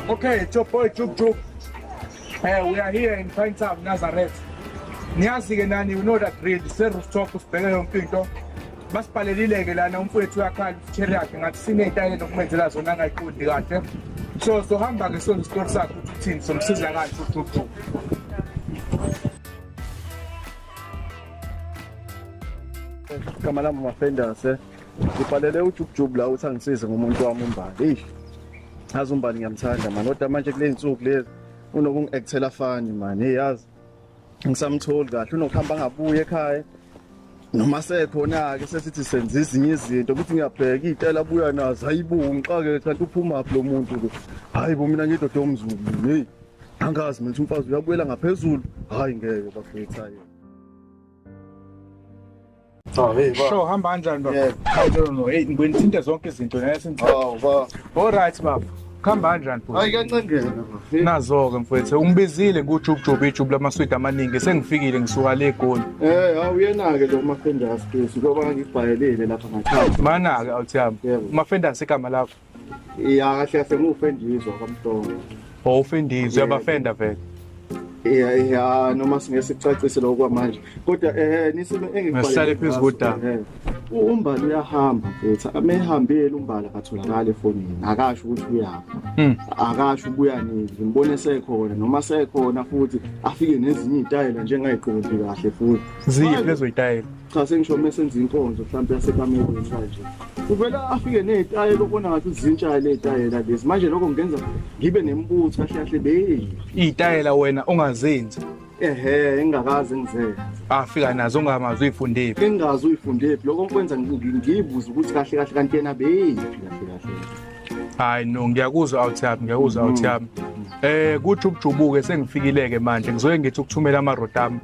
Okay, it's your boy Juk Juk. Hey, eh, we are here in Pinetown, Nazareth. Niyazi-ke nani, you know that drill, se-rooftop sibheke yonke into. Basibhalelile-ke lana umfowethu uyakhala i-chair yakhe ngathi siney'tayile nokumenzela zona angayiqondi kahle. So sohamba-ke soze isitori sakhe ukuthi uthini, somsiza kanje uJuk Juk. Kamala Mafendase. ngibhalele ujukujuku la ukuthi angisize ngomuntu wami umbali eyi azi umbali ngiyamthanda mani kodwa manje kule nsuku lezi unokungi-ekthela fani mani eyi yazi ngisamtholi kahle unokuhamba angabuye ekhaya noma sekhona-ke sesithi senza ezinye izinto ukuthi ngiyabheka iy'tela abuya nazo hayi bo ngixake kanti uphumaphi lo muntu lo hhayi bo mina ngidoda omzulu heyi angazi mina ukuthi umfazi uyabuyela ngaphezulu hhayi ngeke bafethayo Oh, hey, ba. Sho hamba kanjani baba? Yeah. I don't know. Hey, ngibona ithinte zonke izinto nale sinto. Awu ba. All right baba. Khamba kanjani bhuti? Hayi kancengela bafethu. Nazo-ke mfwethu ungibizile kujubujubu ijubu lamaswidi amaningi sengifikile ngisuka le egoli Eh, hawu uyena-ke lo mafendasi Jesu ngoba ngibhayelile lapha ngakhaya. mana-ke awuthi yami Yebo. umafendasi igama lakho Iya kahle sengufendizwa kamhlongo. Oh ufendizwa uyabafenda vele. Iya iya noma singesicacise lokwa manje. Kodwa eh nisime engikubalekile. Ngisale phezu kodaba. Eh, umbala uyahamba mfethu amehambile umbala katholakala efonini akasho ukuthi uyapha hmm. akasho ubuya nini ngimbone sekhona noma sekhona futhi afike nezinye izitayela njengayiqondi kahle futhi ziphi lezo izitayela cha sengisho uma senza inkonzo mhlawumbe yasekamelweni kanje uvele afike nezitayela okubona ngathi uzintsha lezitayela lezi manje lokho ngenza ngibe nemibutho kahle kahle beyi izitayela wena ongazenzi ehe engakaze ngizenze afika nazo ongamazi uyifundephi engazi uyifundephi lokho kwenza ngiyibuza ukuthi kahle kahle kanti yena beyiphi kahle kahle hayi no ngiyakuzwa out yami ngiyakuzwa out yami eh kuthi ukujubuke sengifikileke manje ngizoye ngithi ukuthumela amarota ami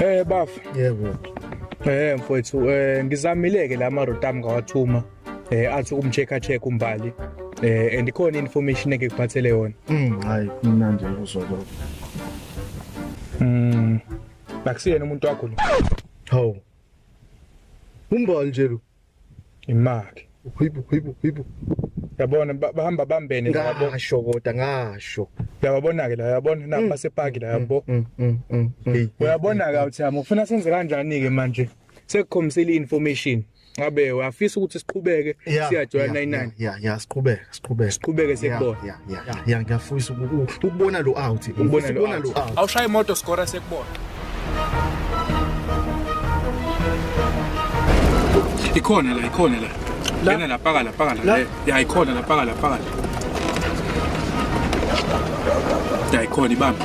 Eh bafu. Yebo. Eh mfowethu eh ngizamileke la ma road am ngawathuma eh athi ukumcheck check umbali eh and ikhona information eke kuphathele yona. Mm hayi mina nje uzwa lokho. Mm. Bakusiyena umuntu wakho lo. Hawu. Umbali nje lo. imali hibu hibu hibu yabona bahamba bambene labo ngasho kodwa ngasho yababona ke la yabona na mm. basepaki la yabo mm, mm, uyabona ka uthamo ufuna senze kanjani ke manje sekukhombisile information ngabe uyafisa ukuthi siqhubeke siyajoyina 99 yeah yeah siqhubeka siqhubeke siqhubeke sekubona yeah yeah yeah, yeah ngiyafisa ukubona lo out ukubona lo out awushaya imoto score sekubona ikhona la ikhona la lena la paka la paka la ya ikhona la paka la paka la ya ikhona ibambe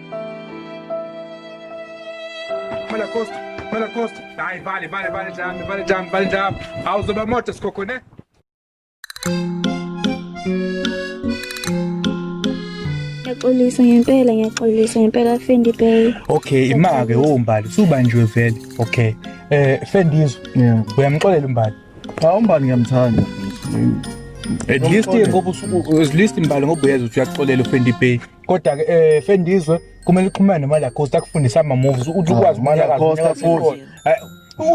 Mala Costa, Mala Costa. Ai, vale, vale, vale já, vale já, vale já. Aos obamotas, coco, né? ngiyaxolisa ngempela ngiyaxolisa ngempela Fendi Bay okay ima ke wombali subanjwe vele okay eh Fendizo uyamxolela umbali cha umbali ngiyamthanda at least ngoba at least imbali ngoba uyeza uthi uyaxolela uFendi Bay kodwa ke eh Fendizwe kumele uxhumane nemali cost akufundisa ama moves uthi ukwazi imali cost futhi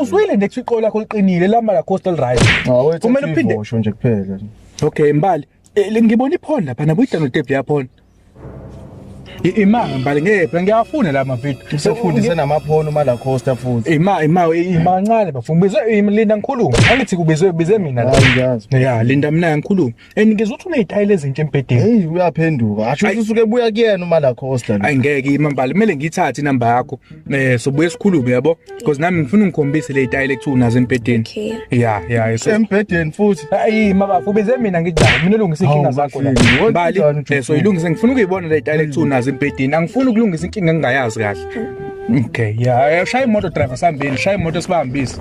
uzwile nje iqola lakho liqinile la mali cost li right kumele uphinde usho nje kuphela okay mbali eh, ngibona iphone lapha nabo idlalo tape yaphone imanga mbali ngepha ngiyafuna la mavidio usefundise namaphono mala costa futhi ima ima imancane bafuna ubizwe linda ngikhuluma angithi kubizwe bize mina la ya linda mina ngikhuluma and ngizwe ukuthi unezitayela ezintsha embhedeni hey uyaphenduka asho ukuthi usuke buya kuyena uma la costa ayi ngeke imambali kumele ngiyithathe inamba yakho eh sobuye sikhulume yabo because nami ngifuna ungikhombise le zitayela ekuthiwa unazo embhedeni okay ya ya so embhedeni futhi ayi mama ubeze mina ngijala mina ulungisa inkinga zakho la mbali eh, so ilungise ngifuna ukuyibona le zitayela ekuthiwa unazo embhedeni angifuni ukulungisa inkinga engingayazi kahle okay ya eh, shaya imoto driver sambeni shaya imoto sibambise